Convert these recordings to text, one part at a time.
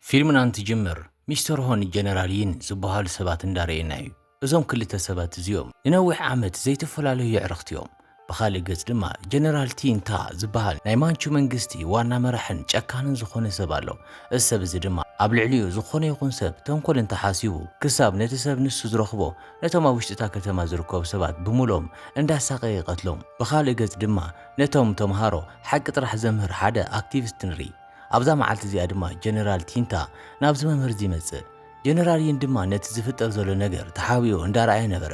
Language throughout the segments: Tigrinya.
ፊልምና እንትጅምር ሚስተር ሆ ን ጀነራል ዪን ዝብሃሉ ሰባት እንዳረኤና ዩ። እዞም ክልተ ሰባት እዚኦም ንነዊሕ ዓመት ዘይተፈላለዩ የዕርኽቲ ዮም። ብኻልእ ገፅ ድማ ጀነራል ቲን ታ ዝብሃል ናይ ማንቹ መንግስቲ ዋና መራሕን ጨካንን ዝኾነ ሰብ ኣሎ። እዚ ሰብ እዚ ድማ ኣብ ልዕሊኡ ዝኾነ ይኹን ሰብ ተንኮል እንተሓሲቡ ክሳብ ነቲ ሰብ ንሱ ዝረኽቦ ነቶም ኣብ ውሽጢ እታ ከተማ ዝርከቡ ሰባት ብሙሉኦም እንዳሳቐየ ይቐትሎም። ብኻልእ ገፅ ድማ ነቶም ተምሃሮ ሓቂ ጥራሕ ዘምህር ሓደ ኣክቲቪስት ንርኢ። ኣብዛ መዓልቲ እዚኣ ድማ ጀነራል ቲንታ ናብዚ መምህር እዚ ይመጽእ። ጀነራል ዪን ድማ ነቲ ዝፍጠር ዘሎ ነገር ተሓቢኡ እንዳረኣየ ነበረ።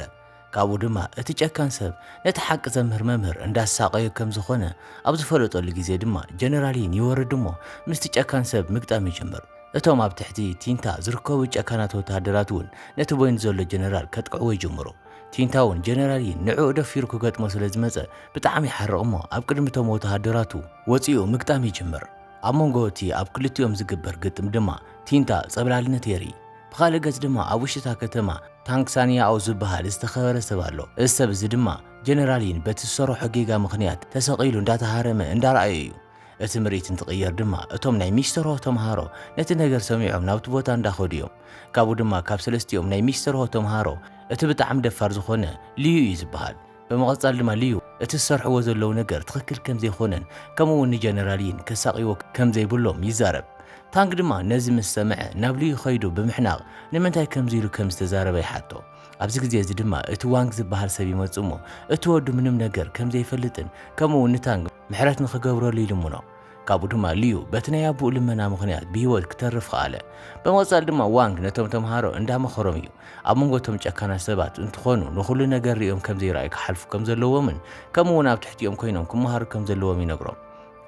ካብኡ ድማ እቲ ጨካን ሰብ ነቲ ሓቂ ዘምህር መምህር እንዳሳቐዮ ከም ዝኾነ ኣብ ዝፈለጠሉ ግዜ ድማ ጀነራል ዪን ይወርድ እሞ ምስቲ ጨካን ሰብ ምግጣም ይጅምር። እቶም ኣብ ትሕቲ ቲንታ ዝርከቡ ጨካናት ወተሃደራት እውን ነቲ ቦይንድ ዘሎ ጀነራል ከጥቅዕዎ ይጅምሩ። ቲንታውን ጀነራሊን ንዕኡ ደፊሩ ክገጥሞ ስለ ዝመጸ ብጣዕሚ ይሓርቕ እሞ ኣብ ቅድሚ እቶም ወተሃደራቱ ወጺኡ ምግጣም ይጅምር። ኣብ መንጎ እቲ ኣብ ክልቲኦም ዝግበር ግጥም ድማ ቲንታ ጸብላልነት የርኢ። ብኻልእ ገጽ ድማ ኣብ ውሽጢ እታ ከተማ ታንክ ሳንያኦ ዝበሃል ዝተኸበረ ሰብ ኣሎ። እዚ ሰብ እዚ ድማ ጀነራሊን በቲ ዝሰረሖ ጌጋ ምኽንያት ተሰቒሉ እንዳተሃረመ እንዳረኣዮ እዩ። እቲ ምርኢት እንትቕየር ድማ እቶም ናይ ሚስተርሆ ተምሃሮ ነቲ ነገር ሰሚዖም ናብቲ ቦታ እንዳኸዱ እዮም። ካብኡ ድማ ካብ ሰለስቲኦም ናይ ሚስተርሆ ተምሃሮ እቲ ብጣዕሚ ደፋር ዝኾነ ልዩ እዩ ዝበሃል። ብምቕጻል ድማ ልዩ እቲ ዝሰርሕዎ ዘለዉ ነገር ትኽክል ከምዘይኮነን ከምኡ እውን ንጀነራል ዪን ከሳቕይዎ ከምዘይብሎም ይዛረብ። ታንግ ድማ ነዚ ምስ ሰምዐ ናብ ልዩ ከይዱ ብምሕናቕ ንምንታይ ከምዚ ኢሉ ከምዝተዛረበ ይሓቶ። ኣብዚ ግዜ እዚ ድማ እቲ ዋንግ ዝበሃል ሰብ ይመጽእ እሞ እቲ ወዱ ምንም ነገር ከምዘይፈልጥን ከምኡ እውን ንታንግ ምሕረት ንኽገብረሉ ይልምኖ። ካብኡ ድማ ሊዩ በቲ ናይ ኣቦኡ ልመና ምኽንያት ብህይወት ክተርፍ ኸኣለ። ብምቕጻል ድማ ዋንግ ነቶም ተምሃሮ እንዳመኸሮም እዩ ኣብ መንጎ እቶም ጨካናት ሰባት እንትኾኑ ንኹሉ ነገር ርእዮም ከም ዘይረኣዩ ክሓልፉ ከም ዘለዎምን ከምኡ እውን ኣብ ትሕቲኦም ኮይኖም ክመሃሩ ከም ዘለዎም ይነግሮም።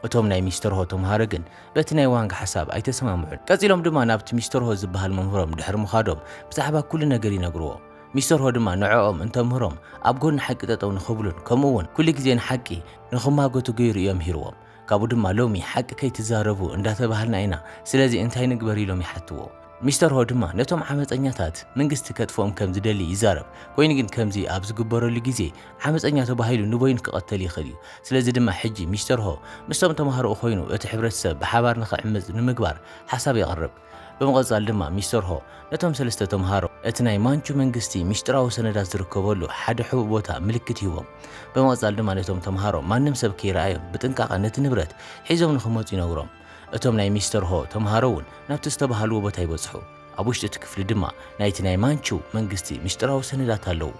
እቶም ናይ ሚስተር ሆ ተምሃሮ ግን በቲ ናይ ዋንግ ሓሳብ ኣይተሰማምዑን። ቀጺሎም ድማ ናብቲ ሚስተር ሆ ዝበሃል መምህሮም ድሕሪ ምኻዶም ብዛዕባ ኩሉ ነገር ይነግርዎ። ሚስተር ሆ ድማ ንዕኦም እንተምህሮም ኣብ ጎኒ ሓቂ ጠጠው ንኽብሉን ከምኡ እውን ኩሉ ግዜ ንሓቂ ንኽማጎቱ ገይሩ ኢዮ ምሂርዎም ካብኡ ድማ ሎሚ ሓቂ ከይትዛረቡ እንዳተባሃልና ኢና ስለዚ እንታይ ንግበር ኢሎም ይሓትዎ ሚስተር ሆ ድማ ነቶም ዓመጸኛታት ምንግስቲ ከጥፍኦም ከም ዝደሊ ይዛረብ ኮይኑ ግን ከምዚ ኣብ ዝግበረሉ ግዜ ዓመጸኛ ተባሂሉ ንበይኑ ክቐተል ይኽእል ኢዩ ስለዚ ድማ ሕጂ ሚስተር ሆ ምስቶም ተማሃሮኡ ኮይኑ እቲ ሕብረተሰብ ብሓባር ንኽዕምጽ ንምግባር ሓሳብ የቕርብ ብምቕጻል ድማ ሚስተር ሆ ነቶም ሰለስተ ተምሃሮ እቲ ናይ ማንቹ መንግስቲ ሚስጢራዊ ሰነዳት ዝርከበሉ ሓደ ሕቡእ ቦታ ምልክት ይህቦም። ብምቕጻል ድማ ነቶም ተምሃሮ ማንም ሰብ ከይረኣዮም ብጥንቃቐ ነቲ ንብረት ሒዞም ንኽመጹ ይነግሮም። እቶም ናይ ሚስተር ሆ ተምሃሮ እውን ናብቲ ዝተበሃልዎ ቦታ ይበጽሑ። ኣብ ውሽጢ እቲ ክፍሊ ድማ ናይቲ ናይ ማንቹ መንግስቲ ሚስጢራዊ ሰነዳት ኣለዉ።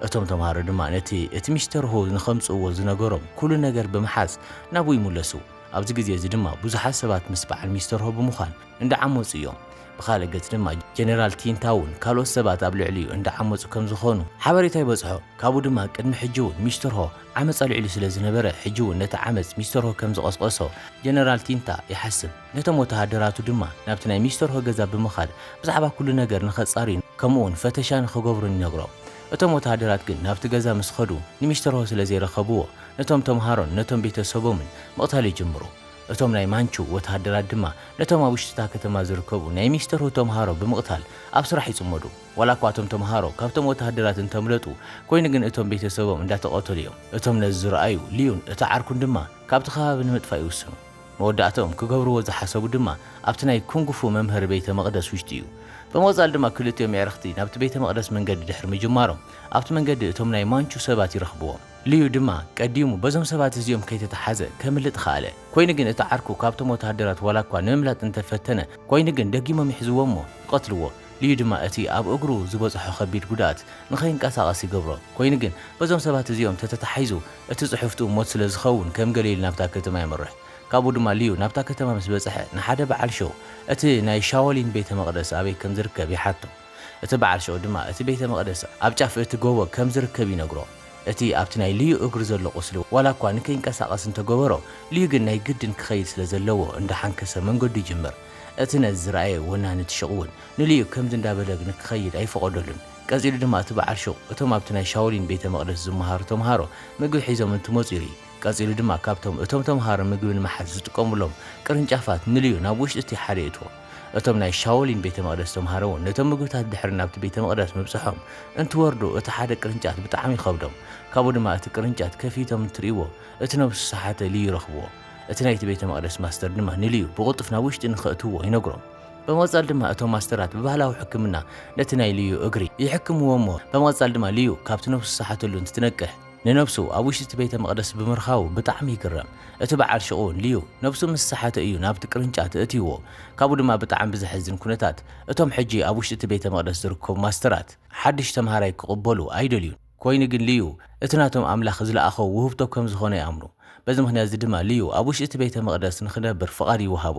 እቶም ተምሃሮ ድማ ነቲ እቲ ሚስተር ሆ ንኸምጽእዎ ዝነገሮም ኩሉ ነገር ብምሓዝ ናብኡ ይምለሱ። ኣብዚ ግዜ እዚ ድማ ብዙሓት ሰባት ምስ በዓል ሚስተርሆ ብምዃን እንዳዓመጹ እዮም። ብኻልእ ገጽ ድማ ጀነራል ቲንታውን ካልኦት ሰባት ኣብ ልዕሊኡ እንዳዓመጹ ከም ዝኾኑ ሓበሬታ ይበጽሖ። ካብኡ ድማ ቅድሚ ሕጂ'ውን ሚስተርሆ ዓመጽ ኣልዒሉ ስለ ዝነበረ ሕጂ'ውን ነቲ ዓመጽ ሚስተርሆ ከም ዝቐስቐሶ ጀነራል ቲንታ ይሓስብ። ነቶም ወተሃደራቱ ድማ ናብቲ ናይ ሚስተርሆ ገዛ ብምኻድ ብዛዕባ ኩሉ ነገር ንኸጻርዩን ከምኡ'ውን ፈተሻ ንኽገብሩን ይነግሮም። እቶም ወተሃደራት ግን ናብቲ ገዛ ምስ ኸዱ ንሚስተርሆ ስለ ዘይረኸብዎ ነቶም ተምሃሮን ነቶም ቤተሰቦምን ምቕታል ይጅምሩ። እቶም ናይ ማንቹ ወተሃደራት ድማ ነቶም ኣብ ውሽጢ እታ ከተማ ዝርከቡ ናይ ሚስተር ሁ ተምሃሮ ብምቕታል ኣብ ስራሕ ይጽመዱ። ዋላኳ እቶም ተምሃሮ ካብቶም ወተሃደራት እንተምለጡ፣ ኮይኑ ግን እቶም ቤተሰቦም እንዳተቐተሉ እዮም። እቶም ነዚ ዝረኣዩ ሊዩን እቲ ዓርኩን ድማ ካብቲ ከባቢ ንምጥፋእ ይውስኑ። መወዳእትኦም ክገብርዎ ዝሓሰቡ ድማ ኣብቲ ናይ ኩንግ ፉ መምሀሪ ቤተ መቕደስ ውሽጢ እዩ። ብምቕጻል ድማ ክልቲኦም የዕርኽቲ ናብቲ ቤተ መቕደስ መንገዲ ድሕሪ ምጅማሮም ኣብቲ መንገዲ እቶም ናይ ማንቹ ሰባት ይረኽብዎም። ልዩ ድማ ቀዲሙ በዞም ሰባት እዚኦም ከይተታሓዘ ከምልጥ ኸኣለ። ኮይኑ ግን እቲ ዓርኩ ካብቶም ወተሃደራት ዋላ እኳ ንምምላጥ እንተ ፈተነ ኮይኑ ግን ደጊሞም ይሕዝዎ እሞ ይቐትልዎ። ልዩ ድማ እቲ ኣብ እግሩ ዝበጽሖ ከቢድ ጉድኣት ንኸይንቀሳቐስ ይገብሮ። ኮይኑ ግን በዞም ሰባት እዚኦም ተተታሒዙ እቲ ጽሑፍትኡ ሞት ስለ ዝኸውን ከም ገለ ኢሉ ናብታ ከተማ የምርሕ። ካብኡ ድማ ልዩ ናብታ ከተማ ምስ በጽሐ ንሓደ በዓል ሸው እቲ ናይ ሻወሊን ቤተ መቕደስ ኣበይ ከም ዝርከብ ይሓቶ። እቲ በዓል ሸው ድማ እቲ ቤተ መቕደስ ኣብ ጫፍ እቲ ጎቦ ከም ዝርከብ ይነግሮ። እቲ ኣብቲ ናይ ልዩ እግሩ ዘሎ ቁስሊ ዋላ እኳ ንከይንቀሳቐስ እንተ ገበሮ፣ ልዩ ግን ናይ ግድን ክኸይድ ስለ ዘለዎ እንዳ ሓንከሰ መንገዱ ይጅምር። እቲ ነዚ ዝረኣየ ወናኒ እቲ ሹቕ እውን ንልዩ ከምዚ እንዳ በለ ንክኸይድ ኣይፈቐደሉን። ቀጺሉ ድማ እቲ በዓል ሹቕ እቶም ኣብቲ ናይ ሻውሊን ቤተ መቕደስ ዝመሃሩ ተመሃሮ ምግቢ ሒዞም እንትመጹ ይርኢ። ቀጺሉ ድማ ካብቶም እቶም ተመሃሮ ምግቢ ንምሓዝ ዝጥቀሙሎም ቅርንጫፋት ንልዩ ናብ ውሽጢ እቲ ሓደ የእትዎ። እቶም ናይ ሻኦሊን ቤተ መቕደስ ተምሃሮ እውን ነቶም ምግብታት ድሕሪ ናብቲ ቤተ መቕደስ ምብጽሖም እንትወርዱ እቲ ሓደ ቅርንጫት ብጣዕሚ ይኸብዶም ካብኡ ድማ እቲ ቅርንጫት ከፊቶም እንትርእይዎ እቲ ነብሱ ዝሰሓተ ልዩ ይረኽብዎ እቲ ናይቲ ቤተ መቕደስ ማስተር ድማ ንልዩ ብቕልጡፍ ናብ ውሽጢ ንኸእትውዎ ይነግሮም ብምቕጻል ድማ እቶም ማስተራት ብባህላዊ ሕክምና ነቲ ናይ ልዩ እግሪ ይሕክምዎ እሞ ብምቕጻል ድማ ልዩ ካብቲ ነብሱ ዝሰሓተሉ እንትትነቅሕ ንነብሱ ኣብ ውሽጢ እቲ ቤተ መቕደስ ብምርካቡ ብጣዕሚ ይግረም። እቲ በዓል ሹቕ እውን ልዩ ነብሱ ምስ ሰሓተ እዩ ናብቲ ቅርንጫት እእትይዎ። ካብኡ ድማ ብጣዕሚ ብዘሕዝን ኩነታት እቶም ሕጂ ኣብ ውሽጢ እቲ ቤተ መቕደስ ዝርከቡ ማስተራት ሓድሽ ተምሃራይ ክቕበሉ ኣይደልዩን። ኮይኑ ግን ልዩ እቲ ናቶም ኣምላኽ ዝለኣኾ ውህብቶ ከም ዝኾነ ይኣምኑ። በዚ ምክንያት እዚ ድማ ልዩ ኣብ ውሽጢ እቲ ቤተ መቕደስ ንክነብር ፍቓድ ይወሃቦ።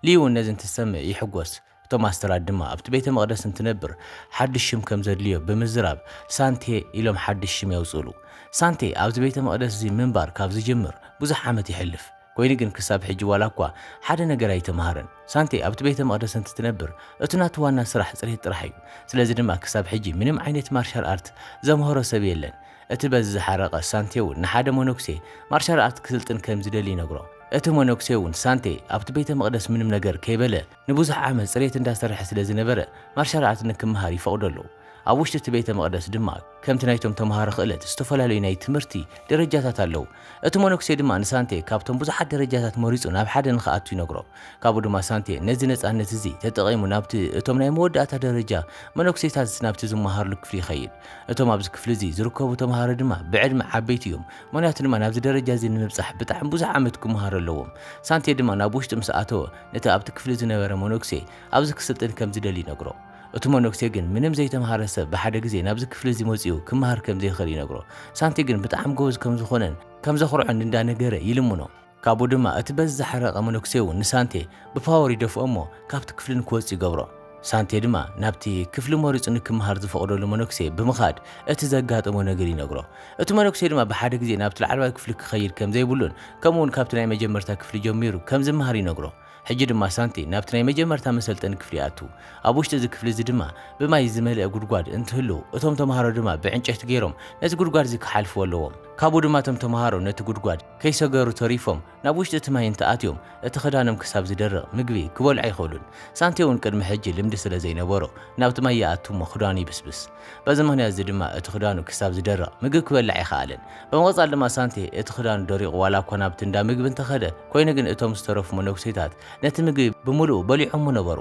ልዩ እውን ነዚ እንትሰምዕ ይሕጎስ። እቶም ኣስተራት ድማ ኣብቲ ቤተ መቕደስ እንትነብር ሓድሽ ሽም ከም ዘድልዮ ብምዝራብ ሳንቴ ኢሎም ሓድሽ ሽም የውጽእሉ። ሳንቴ ኣብዚ ቤተ መቕደስ እዚ ምንባር ካብ ዝጅምር ብዙሕ ዓመት ይሕልፍ። ኰይኑ ግን ክሳብ ሕጂ ዋላ እኳ ሓደ ነገር ኣይተመሃረን። ሳንቴ ኣብቲ ቤተ መቕደስ እንትትነብር እቲ ናቱ ዋና ስራሕ ጽሬት ጥራሕ እዩ። ስለዚ ድማ ክሳብ ሕጂ ምንም ዓይነት ማርሻል ኣርት ዘምሀሮ ሰብ የለን። እቲ በዚ ዝሓረቐ ሳንቴ እውን ንሓደ መነኩሴ ማርሻል ኣርት ክስልጥን ከም ዝደሊ ይነግሮ። እቲ መነኩሴ እውን ሳንቴ ኣብቲ ቤተ መቕደስ ምንም ነገር ከይበለ፣ ንብዙሕ ዓመት ጽሬት እንዳ ሰርሐ ስለ ዝነበረ ማርሻል ኣርት ንክመሃር ይፈቕደሉ። ኣብ ውሽጢ እቲ ቤተ መቕደስ ድማ ከምቲ ናይቶም ተመሃሮ ክእለት ዝተፈላለዩ ናይ ትምህርቲ ደረጃታት ኣለዉ። እቲ መነኩሴ ድማ ንሳንቴ ካብቶም ብዙሓት ደረጃታት መሪጹ ናብ ሓደ ንክኣቱ ይነግሮ። ካብኡ ድማ ሳንቴ ነዚ ነጻነት እዚ ተጠቒሙ ናብቲ እቶም ናይ መወዳእታ ደረጃ መነኩሴታት ናብቲ ዝመሃርሉ ክፍሊ ይኸይድ። እቶም ኣብዚ ክፍሊ እዚ ዝርከቡ ተመሃሮ ድማ ብዕድመ ዓበይቲ እዮም ምኽንያቱ ድማ ናብዚ ደረጃ እዚ ንምብጻሕ ብጣዕሚ ብዙሕ ዓመት ክመሃሩ ኣለዎም። ሳንቴ ድማ ናብ ውሽጢ ምስ ኣተወ ነቲ ኣብቲ ክፍሊ ዝነበረ መነኩሴ ኣብዚ ክስልጥን ከም ዝደሊ ይነግሮ። እቲ መነኩሴ ግን ምንም ዘይተምሃረ ሰብ ብሓደ ግዜ ናብዚ ክፍሊ እዚ መጺኡ ክመሃር ከም ዘይክእል ይነግሮ። ሳንቲ ግን ብጣዕሚ ጎበዝ ከም ዝኾነን ከም ዘኹርዖን እንዳ ነገረ ይልምኖ። ካብኡ ድማ እቲ በዚ ዝሓረቐ መነኩሴ እውን ንሳንቴ ብፓወር ይደፍኦ እሞ ካብቲ ክፍሊ ንክወጽእ ይገብሮ። ሳንቴ ድማ ናብቲ ክፍሊ መሪጹ ንክመሃር ዝፈቕደሉ መነኩሴ ብምኻድ እቲ ዘጋጠሞ ነገር ይነግሮ። እቲ መነኩሴ ድማ ብሓደ ግዜ ናብቲ ላዕለዋይ ክፍሊ ክኸይድ ከም ዘይብሉን ከምኡ'ውን ካብቲ ናይ መጀመርታ ክፍሊ ጀሚሩ ከም ዝመሃር ይነግሮ። ሕጂ ድማ ሳንቴ ናብቲ ናይ መጀመርታ መሰልጠኒ ክፍሊ ይኣቱ። ኣብ ውሽጢ እዚ ክፍሊ እዚ ድማ ብማይ ዝመልአ ጉድጓድ እንትህሉ እቶም ተመሃሮ ድማ ብዕንጨይቲ ገይሮም ነቲ ጉድጓድ እዚ ክሓልፍዎ ኣለዎም። ካብኡ ድማ እቶም ተመሃሮ ነቲ ጉድጓድ ከይሰገሩ ተሪፎም ናብ ውሽጢ እቲ ማይ እንተኣትዮም እቲ ክዳኖም ክሳብ ዝደርቕ ምግቢ ክበልዑ ኣይኽእሉን። ሳንቲዮ እውን ቅድሚ ሕጂ ልምዲ ስለ ዘይነበሮ ናብቲ ማይ ይኣቱ እሞ ክዳኑ ይብስብስ። በዚ ምኽንያት እዚ ድማ እቲ ክዳኑ ክሳብ ዝደርቕ ምግቢ ክበልዕ ኣይኸኣለን። ብምቕጻል ድማ ሳንቲየ እቲ ክዳኑ ደሪቑ ዋላ እኳ ናብቲ እንዳ ምግቢ እንተኸደ ኮይኑ ግን እቶም ዝተረፉ መነኩሴታት ነቲ ምግቢ ብምልኡ በሊዖሞ ነበሩ።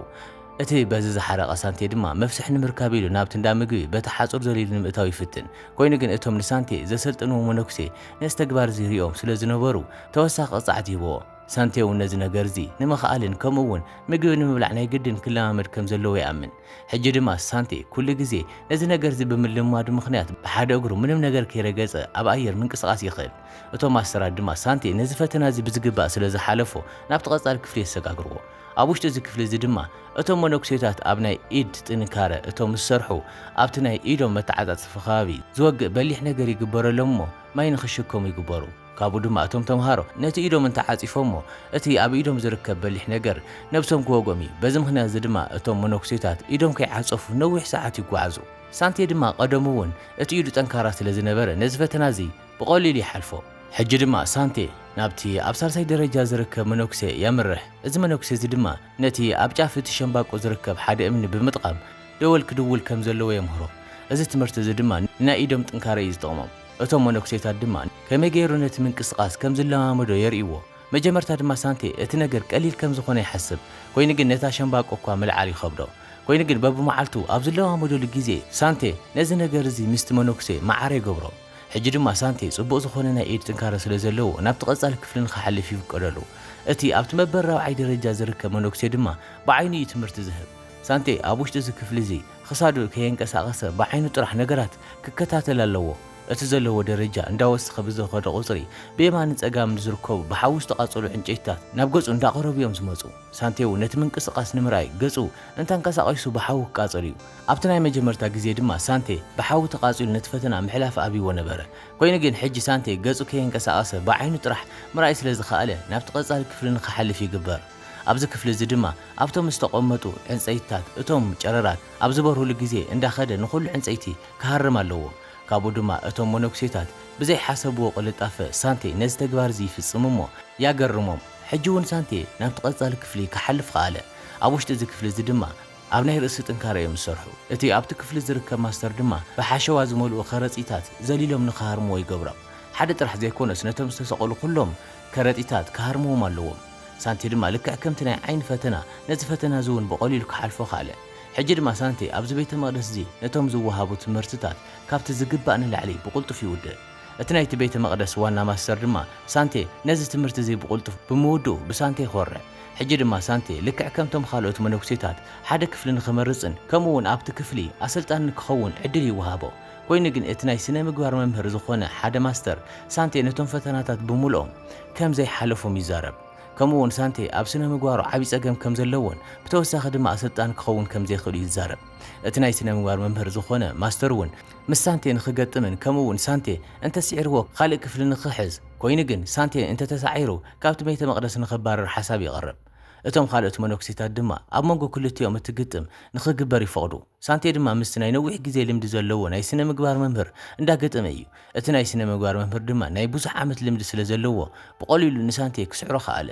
እቲ በዚ ዝሓረቐ ሳንቲየ ድማ መፍስሒ ንምርካብ ኢሉ ናብቲ እንዳ ምግቢ በቲ ሓጹር ዘሊሉ ንምእታው ይፍትን። ኮይኑ ግን እቶም ንሳንቲየ ዘሰልጠንዎ መነኩሴ ነዚ ተግባር እዚ ሪኦም ስለ ዝነበሩ ተወሳኺ ቅፅዓት ይህብዎ። ሳንቴ እውን ነዚ ነገር እዚ ንምኽኣልን ከምኡ እውን ምግቢ ንምብላዕ ናይ ግድን ክለማመድ ከም ዘለዎ ይኣምን። ሕጂ ድማ ሳንቴ ኩሉ ግዜ ነዚ ነገር እዚ ብምልምማዱ ምኽንያት ብሓደ እግሩ ምንም ነገር ከይረገፀ ኣብ ኣየር ምንቅስቓስ ይኽእል። እቶም ኣሰራት ድማ ሳንቴ ነዚ ፈተና እዚ ብዝግባእ ስለ ዝሓለፎ ናብቲ ቀፃሊ ክፍሊ የሰጋግርዎ። ኣብ ውሽጢ እዚ ክፍሊ እዚ ድማ እቶም መነኩሴታት ኣብ ናይ ኢድ ጥንካረ እቶም ዝሰርሑ ኣብቲ ናይ ኢዶም መተዓጻጽፊ ከባቢ ዝወግእ በሊሕ ነገር ይግበረሎም እሞ ማይ ንኽሽከሙ ይግበሩ። ካብኡ ድማ እቶም ተምሃሮ ነቲ ኢዶም እንተ ዓጺፎሞ እቲ ኣብ ኢዶም ዝርከብ በሊሕ ነገር ነብሶም ክወግኦም እዩ። በዚ ምኽንያት እዚ ድማ እቶም መነኩሴታት ኢዶም ከይዓጸፉ ነዊሕ ሰዓት ይጓዓዙ። ሳንቴ ድማ ቀደሙ'ውን እቲ ኢዱ ጠንካራ ስለ ዝነበረ ነዚ ፈተና እዚ ብቐሊሉ ይሓልፎ። ሕጂ ድማ ሳንቴ ናብቲ ኣብ ሳልሳይ ደረጃ ዝርከብ መነኩሴ የምርሕ። እዚ መነኩሴ እዚ ድማ ነቲ ኣብ ጫፍ እቲ ሸምባቆ ዝርከብ ሓደ እምኒ ብምጥቓም ደወል ክድውል ከም ዘለዎ የምህሮ። እዚ ትምህርቲ እዚ ድማ ንናይ ኢዶም ጥንካረ እዩ ዝጠቕሞም። እቶም መነኩሴታት ድማ ከመይ ገይሩ ነቲ ምንቅስቓስ ከም ዝለማመዶ የርእይዎ። መጀመርታ ድማ ሳንቴ እቲ ነገር ቀሊል ከም ዝዀነ ይሓስብ። ኰይኑ ግን ነታ ሸምባቆ እኳ ምልዓል ይኸብዶ። ኰይኑ ግን በብመዓልቱ ኣብ ዝለማመደሉ ግዜ ሳንቴ ነዚ ነገር እዚ ምስቲ መነኩሴ መዓረ ይገብሮ። ሕጂ ድማ ሳንቴ ጽቡቕ ዝኾነ ናይ ኢድ ጥንካረ ስለ ዘለዎ ናብቲ ቀጻሊ ክፍሊ ንኽሓልፍ ይፍቀደሉ። እቲ ኣብቲ መበል ራብዓይ ደረጃ ዝርከብ መነኩሴ ድማ ብዓይኑ እዩ ትምህርቲ ዝህብ። ሳንቴ ኣብ ውሽጢ እዚ ክፍሊ እዚ ኽሳዱ ከየንቀሳቐሰ ብዓይኑ ጥራሕ ነገራት ክከታተል ኣለዎ። እቲ ዘለዎ ደረጃ እንዳወሰኸ ብዝኸደ ቁጽሪ ብየማንን ጸጋምን ዝርከቡ ብሓዊ ዝተቓጸሉ ዕንጨይትታት ናብ ገጹ እንዳቐረቡ እዮም ዝመጹ። ሳንቴ እውን ነቲ ምንቅስቓስ ንምርኣይ ገጹ እንተንቀሳቒሱ ብሓዊ ክቃጸል እዩ። ኣብቲ ናይ መጀመርታ ግዜ ድማ ሳንቴ ብሓዊ ተቓጺሉ ነቲ ፈተና ምሕላፍ ኣብይዎ ነበረ። ኰይኑ ግን ሕጂ ሳንቴ ገጹ ከየንቀሳቐሰ ብዓይኑ ጥራሕ ምርኣይ ስለ ዝኸኣለ ናብቲ ቀጻሊ ክፍሊ ንኽሓልፍ ይግበር። ኣብዚ ክፍሊ እዚ ድማ ኣብቶም ዝተቖመጡ ዕንጸይትታት እቶም ጨረራት ኣብ ዝበርሁሉ ግዜ እንዳኸደ ንኹሉ ዕንጸይቲ ክሃርም ኣለዎ። ካብኡ ድማ እቶም መነኩሴታት ብዘይሓሰብዎ ቅልጣፈ ሳንቴ ነዚ ተግባር እዚ ይፍጽም እሞ ያገርሞም። ሕጂ'ውን ሳንቴ ናብቲ ቀጻሊ ክፍሊ ክሓልፍ ኸኣለ። ኣብ ውሽጢ እዚ ክፍሊ እዚ ድማ። ኣብ ናይ ርእሲ ጥንካረ እዮም ዝሰርሑ። እቲ ኣብቲ ክፍሊ ዝርከብ ማስተር ድማ ብሓሸዋ ዝመልኡ ከረጺታት ዘሊሎም ንኽሃርምዎ ይገብሮም። ሓደ ጥራሕ ዘይኮነስ ነቶም ዝተሰቐሉ ኩሎም ከረጢታት ክሃርምዎም ኣለዎም። ሳንቴ ድማ ልክዕ ከምቲ ናይ ዓይኒ ፈተና ነዚ ፈተና እዚ እውን ብቐሊሉ ክሓልፎ ከኣለ። ሕጂ ድማ ሳንቴ ኣብዚ ቤተ መቕደስ እዚ ነቶም ዝወሃቡ ትምህርትታት ካብቲ ዝግባእ ንላዕሊ ብቕልጡፍ ይውድእ። እቲ ናይቲ ቤተ መቕደስ ዋና ማስተር ድማ፣ ሳንቴ ነዚ ትምህርቲ እዚ ብቕልጡፍ ብምውድኡ ብሳንቴ ዀርዕ። ሕጂ ድማ ሳንቴ ልክዕ ከምቶም ኻልኦት መነኵሴታት፣ ሓደ ክፍሊ ንኽመርጽን ከምኡውን ኣብቲ ክፍሊ ኣሰልጣኒ ንክኸውን ዕድል ይወሃቦ። ኰይኑ ግን እቲ ናይ ስነ ምግባር መምህር ዝዀነ ሓደ ማስተር፣ ሳንቴ ነቶም ፈተናታት ብምሉኦም ከም ዘይሓለፎም ይዛረብ። ከምኡውን ሳንቴ ኣብ ስነ ምግባሩ ዓብዪ ጸገም ከም ዘለዎን ብተወሳኺ ድማ ኣሰልጣኒ ክኸውን ከም ዘይክእል'ዩ ዝዛረብ። እቲ ናይ ስነ ምግባር መምህር ዝዀነ ማስተር እውን፣ ምስ ሳንቴ ንኽገጥምን ከምኡ እውን ሳንቴ እንተ ስዒርዎ ኻልእ ክፍሊ ንኽሕዝ፣ ኰይኑ ግን፣ ሳንቴ እንተ ተሳዒሩ ካብቲ ቤተ መቕደስ ንኽባረር ሓሳብ የቕርብ። እቶም ኻልኦት መነኵሴታት ድማ ኣብ መንጎ ክልቲኦም እቲ ግጥም ንኽግበር ይፈቕዱ። ሳንቴ ድማ ምስቲ ናይ ነዊሕ ግዜ ልምዲ ዘለዎ ናይ ስነ ምግባር መምህር እንዳ ገጠመ እዩ። እቲ ናይ ስነ ምግባር መምህር ድማ ናይ ብዙሕ ዓመት ልምዲ ስለ ዘለዎ ብቐሊሉ ንሳንቴ ክስዕሮ ኸኣለ።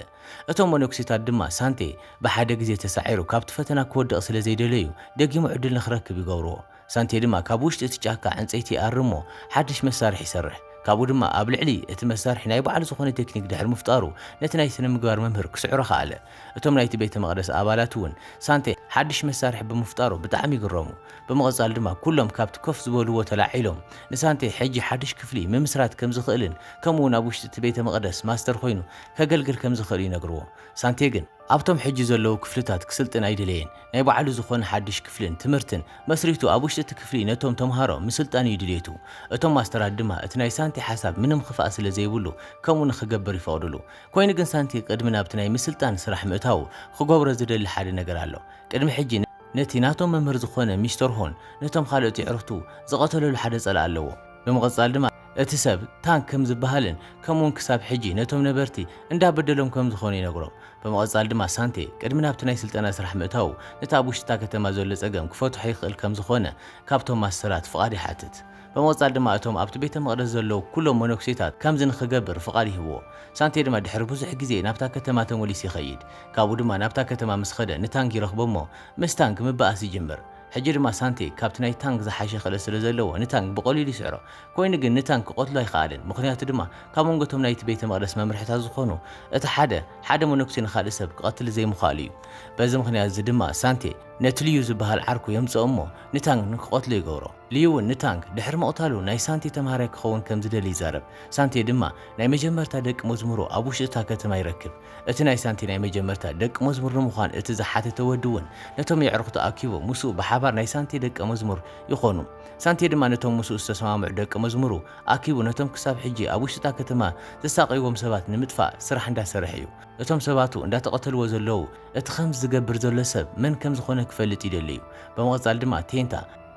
እቶም መነኵሴታት ድማ ሳንቴ ብሓደ ግዜ ተሳዒሩ ካብቲ ፈተና ክወድቕ ስለ ዘይደለዩ ደጊሙ ዕድል ንኽረክብ ይገብርዎ። ሳንቴ ድማ ካብ ውሽጢ እቲ ጫካ ዕንጸይቲ ይኣሪ እሞ ሓድሽ መሳርሒ ይሰርሕ። ካብኡ ድማ ኣብ ልዕሊ እቲ መሳርሒ ናይ ባዕሉ ዝኾነ ቴክኒክ ድሕሪ ምፍጣሩ ነቲ ናይ ስነ-ምግባር መምህር ክስዕሮ ከኣለ። እቶም ናይቲ ቤተ መቕደስ ኣባላት እውን ሳንቴ ሓድሽ መሳርሒ ብምፍጣሩ ብጣዕሚ ይግረሙ። ብምቕጻል ድማ ኩሎም ካብቲ ኮፍ ዝበልዎ ተላዒሎም ንሳንቴ ሕጂ ሓድሽ ክፍሊ ምምስራት ከም ዝኽእልን ከምኡ'ውን ኣብ ውሽጢ እቲ ቤተ መቕደስ ማስተር ኮይኑ ከገልግል ከም ዝኽእል ይነግርዎ። ሳንቴ ግን። ኣብቶም ሕጂ ዘለዉ ክፍልታት ክስልጥን ኣይደለየን። ናይ ባዕሉ ዝኾነ ሓድሽ ክፍልን ትምህርትን መስሪቱ ኣብ ውሽጢ እቲ ክፍሊ ነቶም ተምሃሮ ምስልጣን እዩ ድልየቱ። እቶም ማስተራት ድማ እቲ ናይ ሳንቲ ሓሳብ ምንም ኽፍኣት ስለ ዘይብሉ ከምኡ ንኽገብር ይፈቕድሉ። ኮይኑ ግን ሳንቲ ቅድሚ ናብቲ ናይ ምስልጣን ስራሕ ምእታዉ ኽገብሮ ዝደሊ ሓደ ነገር ኣሎ። ቅድሚ ሕጂ ነቲ ናቶም መምህር ዝኾነ ሚስተር ሆን ነቶም ኻልኦት የዕሩኽቱ ዝቐተለሉ ሓደ ጸላኢ ኣለዎ። ብምቕጻል ድማ። እቲ ሰብ ታንክ ከም ዝበሃልን ከምኡውን ክሳብ ሕጂ ነቶም ነበርቲ እንዳ በደሎም ከም ዝኾነ ይነግሮም። ብምቕጻል ድማ ሳንቴ ቅድሚ ናብቲ ናይ ስልጠና ስራሕ ምእታዉ ነቲ ኣብ ውሽጢ እታ ከተማ ዘሎ ጸገም ክፈትሖ ይኽእል ከም ዝኾነ ካብቶም ማስተራት ፍቓድ ይሓትት። ብምቕጻል ድማ እቶም ኣብቲ ቤተ መቕደስ ዘለዉ ኩሎም መነኩሴታት ከምዚ ንኽገብር ፍቓድ ይህብዎ። ሳንቴ ድማ ድሕሪ ብዙሕ ግዜ ናብታ ከተማ ተመሊሱ ይኸይድ። ካብኡ ድማ ናብታ ከተማ ምስ ኸደ ንታንክ ይረኽቦ እሞ ምስ ታንክ ምበኣስ ይጅምር። ሕጂ ድማ ሳንቴ ካብቲ ናይ ታንግ ዝሓሸ ክእለት ስለ ዘለዎ ንታንግ ብቐሊሉ ይስዕሮ። ኮይኑ ግን ንታንግ ክቐትሎ ኣይኸኣለን፣ ምኽንያቱ ድማ ካብ መንጎ እቶም ናይቲ ቤተ መቕደስ መምርሒታት ዝኾኑ እቲ ሓደ፣ ሓደ መነኩሴ ንኻልእ ሰብ ክቐትል ዘይምኽኣሉ እዩ። በዚ ምኽንያት እዚ ድማ ሳንቴ ነቲ ልዩ ዝበሃል ዓርኩ የምጽኦ እሞ ንታንግ ንክቐትሎ ይገብሮ። ልዩ እውን ንታንግ ድሕሪ ምቕታሉ ናይ ሳንቴ ተምሃራይ ክኸውን ከም ዝደሊ ይዛረብ። ሳንቴ ድማ ናይ መጀመርታ ደቂ መዝሙሩ ኣብ ውሽጢ እታ ከተማ ይረክብ። እቲ ናይ ሳንቲ ናይ መጀመርታ ደቂ መዝሙር ንምዃን እቲ ዝሓተተ ወዲ እውን ነቶም የዕርኽቱ ኣኪቡ ምስኡ ብሓባር ናይ ሳንቴ ደቀ መዝሙር ይኾኑ። ሳንቴ ድማ ነቶም ምስኡ ዝተሰማምዑ ደቂ መዝሙሩ ኣኪቡ ነቶም ክሳብ ሕጂ ኣብ ውሽጢ እታ ከተማ ዘሳቕይዎም ሰባት ንምጥፋእ ስራሕ እንዳሰርሐ እዩ። እቶም ሰባቱ እንዳተቐተልዎ ዘለዉ እቲ ከምዚ ዝገብር ዘሎ ሰብ መን ከምዝኾነ ክፈልጥ ይደሊ እዩ። ብምቕጻል ድማ ቴንታ።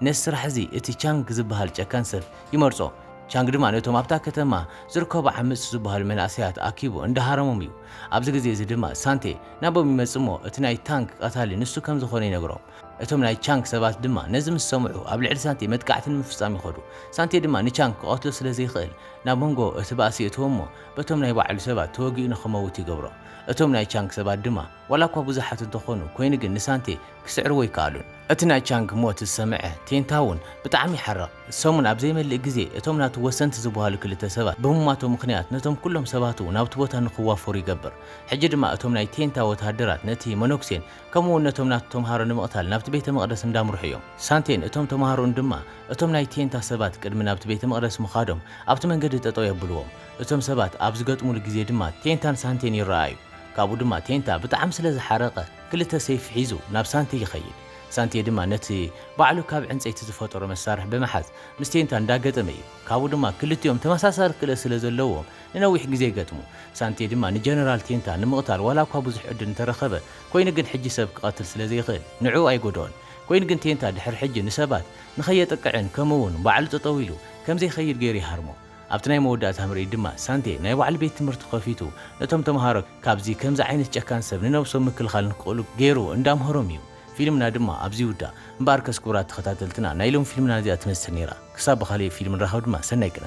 ነዚ ስራሕ እዚ እቲ ቻንግ ዝበሃል ጨካን ሰብ ይመርጾ። ቻንግ ድማ ነቶም ኣብታ ከተማ ዝርከቡ ዓመጽቲ ዝበሃሉ መንእሰያት ኣኪቡ እንዳሃረሞም እዩ። ኣብዚ ግዜ እዚ ድማ ሳንቴ ናቦም ይመጽእ እሞ እቲ ናይ ታንግ ቀታሊ ንሱ ከም ዝኾነ ይነግሮም። እቶም ናይ ቻንግ ሰባት ድማ ነዚ ምስ ሰምዑ ኣብ ልዕሊ ሳንቴ መጥቃዕቲ ንምፍጻም ይኸዱ። ሳንቴ ድማ ንቻንግ ክቐትሎ ስለ ዘይክእል ናብ መንጎ እቲ ባእሲ የእትዎ እሞ በቶም ናይ ባዕሉ ሰባት ተወጊኡ ንኽመውት ይገብሮ። እቶም ናይ ቻንግ ሰባት ድማ። ዋላ እኳ ብዙሓት እንተኾኑ፣ ኮይኑ ግን ንሳንቴ ክስዕርዎ ኣይከኣሉን። እቲ ናይ ቻንግ ሞት ዝሰምዐ ቴንታውን ብጣዕሚ ይሓርቕ። ሰሙን ኣብ ዘይመልእ ግዜ እቶም ናቱ ወሰንቲ ዝብሃሉ ክልተ ሰባት ብሙማቶም ምኽንያት ነቶም ኩሎም ሰባቱ ናብቲ ቦታ ንክዋፈሩ ይገብር። ሕጂ ድማ እቶም ናይ ቴንታ ወተሃደራት ነቲ መነኩሴን ከምኡ እውን ነቶም ናቱ ተምሃሮ ንምቕታል ናብቲ ቤተ መቕደስ እንዳምርሑ እዮም። ሳንቴን እቶም ተምሃሮኡን ድማ እቶም ናይ ቴንታ ሰባት ቅድሚ ናብቲ ቤተ መቕደስ ምኻዶም ኣብቲ መንገዲ ጠጠው የብልዎም። እቶም ሰባት ኣብ ዝገጥሙሉ ግዜ ድማ ቴንታን ሳንቴን ይረኣኣዩ። ካብኡ ድማ ቴንታ ብጣዕሚ ስለ ዝሓረቐ ክልተ ሰይፊ ሒዙ ናብ ሳንቴ ይኸይድ። ሳንቴ ድማ ነቲ ባዕሉ ካብ ዕንጸይቲ ዝፈጠሮ መሳርሒ ብምሓዝ ምስ ቴንታ እንዳገጠመ እዩ። ካብኡ ድማ ክልቲኦም ተመሳሳሊ ክእለት ስለ ዘለዎም ንነዊሕ ግዜ ይገጥሙ። ሳንቴ ድማ ንጀነራል ቴንታ ንምቕታል ዋላ እኳ ብዙሕ ዕድል እንተረኸበ ኮይኑ ግን ሕጂ ሰብ ክቐትል ስለ ዘይኽእል ንዕኡ ኣይጎድኦን። ኮይኑ ግን ቴንታ ድሕሪ ሕጂ ንሰባት ንኸየጥቅዕን ከምኡ እውን ባዕሉ ጠጠው ኢሉ ከም ዘይኸይድ ገይሩ ይሃርሞ። ኣብቲ ናይ መወዳእታ ምርኢት ድማ ሳንቴ ናይ ባዕሉ ቤት ትምህርቲ ከፊቱ ነቶም ተምሃሮ ካብዚ ከምዚ ዓይነት ጨካን ሰብ ንነብሶም ምክልኻል ንክኽእሉ ገይሩ እንዳምሀሮም እዩ። ፊልምና ድማ ኣብዚ ይውዳእ። እምበኣርከስ ክቡራት ተኸታተልትና ናይ ሎሚ ፊልምና ነዚኣ ትመስል ነይራ። ክሳብ ብኻልእ ፊልም ንራኸብ ድማ ሰናይ ቅነ።